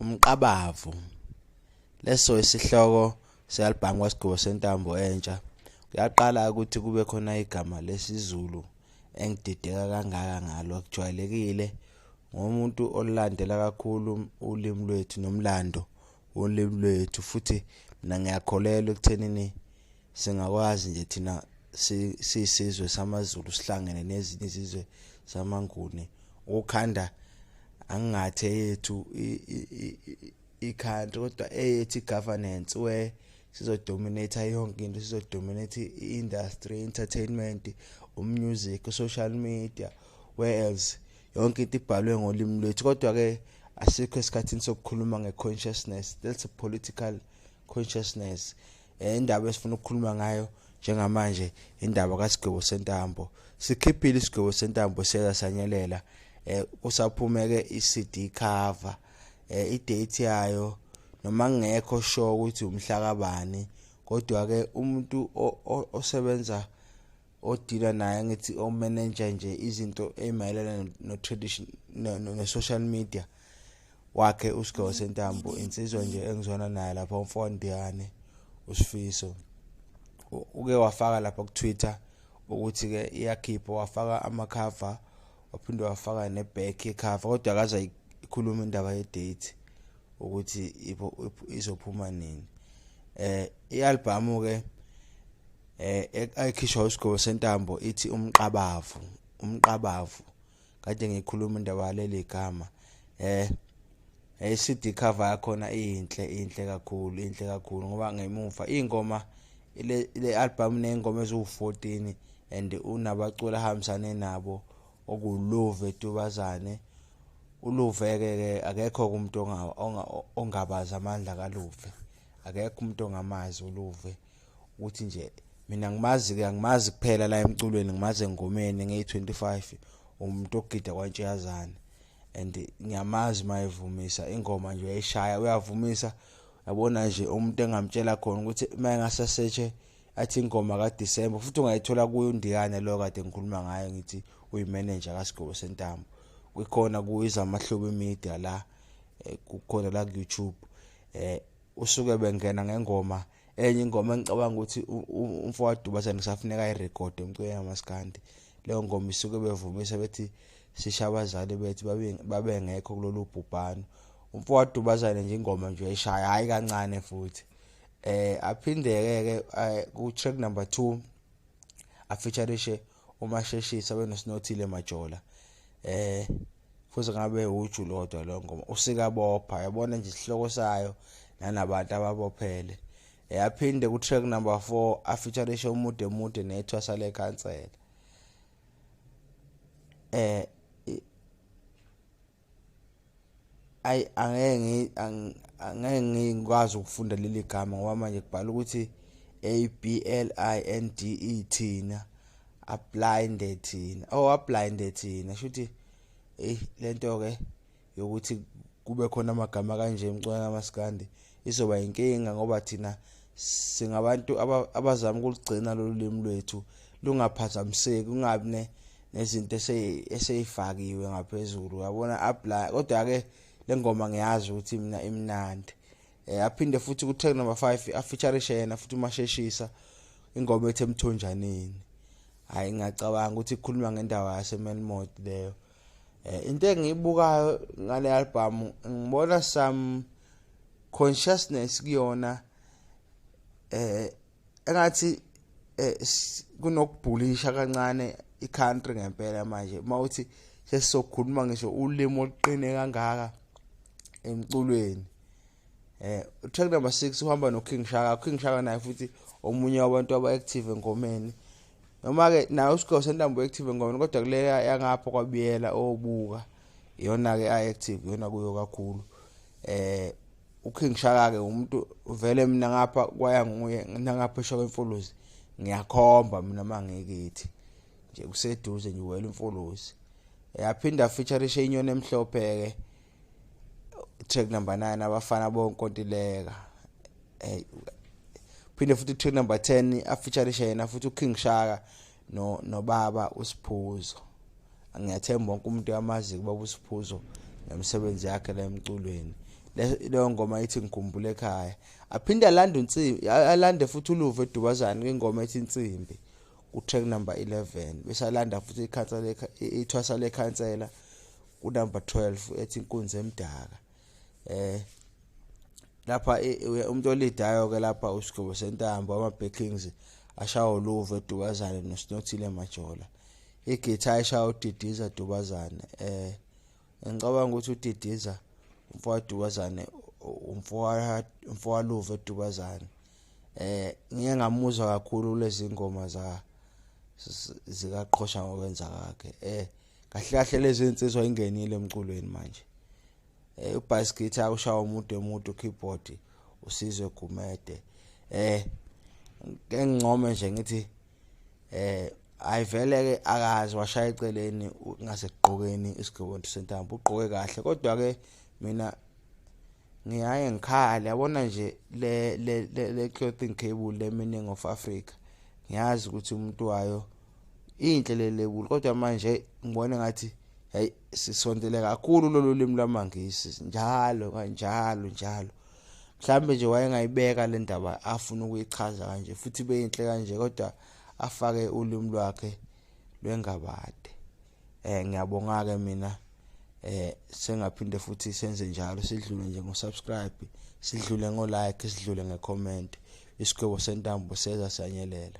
umqabavu leso isihloko se-albhamu kwasigqibo sentambo entsha kuyaqala ukuthi kube khona igama lesizulu engidideka kangaka ngalo kujwayelekile ngomuntu olulandela kakhulu ulimi lwethu nomlando wolimi lwethu futhi mina ngiyakholelwa ekuthenini singakwazi nje thina sisizwe samaZulu sihlangene nezinye izizwe zamanguni ukukhanda angingathe yethu i-country kodwa eyethi governance where sizodominate yonke into sizodominate i-industry entertainment umusic social media where else yonke into ibhalwe ngolimi lwethu kodwa-ke asikho esikhathini sokukhuluma nge-consciousness that's a political consciousness Eh, indaba esifuna ukukhuluma ngayo njengamanje indaba kasigwebo sentambo sikhiphile isigwebo sentambo siyeza sanyelela eh kusaphumeke iCD cover eh idate yayo noma ngekho sure ukuthi umhla kabani kodwa ke umuntu osebenza odila naye ngithi o manager nje izinto ezimayelana no tradition no social media wakhe usigewo sentambo insizwa nje engizwana naye lapha umfondiyane usifiso uke wafaka lapha ku-twitter ukuthi-ke iyakhipha wafaka amakhava waphinde wafaka ne-back yekhava kodwa akaze ikhuluma indaba ye-date ukuthi izophuma nini eh i-albhamu ke eh ayikhishwa usigobo sentambo ithi umqabavu umqabavu kade ngikhuluma indaba yaleli gama eh hey CD cover yakhona inhle inhle kakhulu inhle kakhulu ngoba ngemuva ingoma le le album nengoma eziwu14 and unabaculi ahambisane nabo okulove tubazane uluve ke ke akekho umuntu ongabaza amandla kaluve akekho umuntu ongamazi uluve ukuthi nje mina ngimazi ke angimazi kuphela la emculweni ngimazi engomeni ngiyi-25 umuntu ogida kwantshiyazane and ngiyamazi uma evumisa ingoma nje uyayishaya uyavumisa yabona nje umuntu engamtshela khona ukuthi uma engasasetshe athi ingoma kadisemba futhi ungayithola kuyo undiyane loyo kade ngikhuluma ngayo ngithi uyimenenja kasigobo sentambo kwikhona kuyiza amahlobo emedia la eh, kukhona la ku-youtube um usuke bengena ngengoma enye ingoma engicabanga ukuthi umfowabo Dubazane kusafuneka ayirekhode umculo yamaskandi leyo ngoma isuke bevumisa bethi sisha abazali bethu babengekho kulolu bhubhano umfowabo Dubazane nje ingoma nje eshaya hayi kancane futhi eh aphindeke ke eh, ku track number 2 afeaturishe umasheshisa benoSinothile Majola eh futhi ngabe uju lodwa lo ngoma usikabopha yabona nje isihloko sayo nanabantu ababophele eyaphinde eh, ku track number 4 afeaturishe umude mude nethwasa lekhansela eh ayi angeke angeke ngikwazi ukufunda leli gama ngoba manje kubhala ukuthi a b l i n d e thina ablinde thina oh ablinde thina shuthi hey lento ke yokuthi kube khona amagama kanje emcwana maskandi izoba yinkinga ngoba thina singabantu abazama ukulugcina lolu limi lwethu lungaphazamiseki kungabi ne nezinto eseyifakiwe ngaphezulu uyabona apply kodwa ke lengoma ngiyazi ukuthi mina imnandi eh aphinde futhi ku track number 5 afeature yena futhi umasheshisa ingoma ethe emthonjaneni hayi ngiyacabanga ukuthi ikhuluma ngendawo yasemelmod leyo Eh, into engiyibukayo ngale album ngibona some consciousness kuyona eh engathi eh, kunokubhulisha kancane i-country ngempela manje uma uthi sesizokhuluma ngisho ulimi oluqine kangaka emculweni eh track number 6 uhamba no King Shaka King Shaka naye futhi omunye wabantu aba active engomeni noma-ke nayo usigogo sentambo active engomeni kodwa kuleya yangapha kwabiyela obuka iyona-ke a-active iyona kuyo kakhulu eh uking shaka-ke umuntu vele mina ngapha kwaya nguye nangapha esho kwemfuluzi ngiyakhomba mina uma ngikithi nje kuseduze nje wela imfuluzi yaphinda featurishe inyoni emhlophe-ke track number 9 abafana bonkontileka hey phinde futhi track number 10 afeaturisha yena futhi uKing Shaka no nobaba usiphuzo ngiyathemba wonke umuntu yamazi kuba usiphuzo nemisebenzi yakhe la emculweni leyo ngoma ithi ngikhumbule ekhaya aphinde alande unsimbi alande futhi uluve edubazane kwingoma ethi insimbi ku-track number 11 besalanda futhi ikhansela ithwasa lekhansela kunumber 12 ethi inkunzi emdaka eh lapha e, e, umuntu olidayo ke lapha usigqobo sentambo ama backings ashawo luve dubazane nosinothile majola igitha eshawo udidiza dubazane eh ngicabanga ukuthi udidiza umfowa dubazane umfowa umfowa luve dubazane eh ngike ngamuzwa kakhulu lezi ngoma za zikaqhosha ngokwenza kwakhe eh kahle kahle lezi insizwa ingenile emculweni manje eh ubass guitar ushawa umuntu emuntu keyboard usizwe gumede eh ngengcome nje ngithi eh ayivele ke akazi washaya eceleni ngasekugqokeni isigqoko sentambo ugqoke kahle kodwa ke mina ngiyaye ngikhale yabona nje le le le clothing cable le meaning of Africa ngiyazi ukuthi umuntu wayo inhle le label kodwa manje ngibona ngathi hey sisondele kakhulu lolu limi lwamangisi njalo kanjalo njalo mhlambe nje wayengayibeka le ndaba afuna ukuyichaza kanje futhi beyinhle kanje kodwa afake ulimi lwakhe lwengabade eh ngiyabonga ke mina eh sengaphinde futhi senze njalo sidlule nje ngosubscribe sidlule ngolike sidlule ngecomment isigwebo sentambo seza sanyelela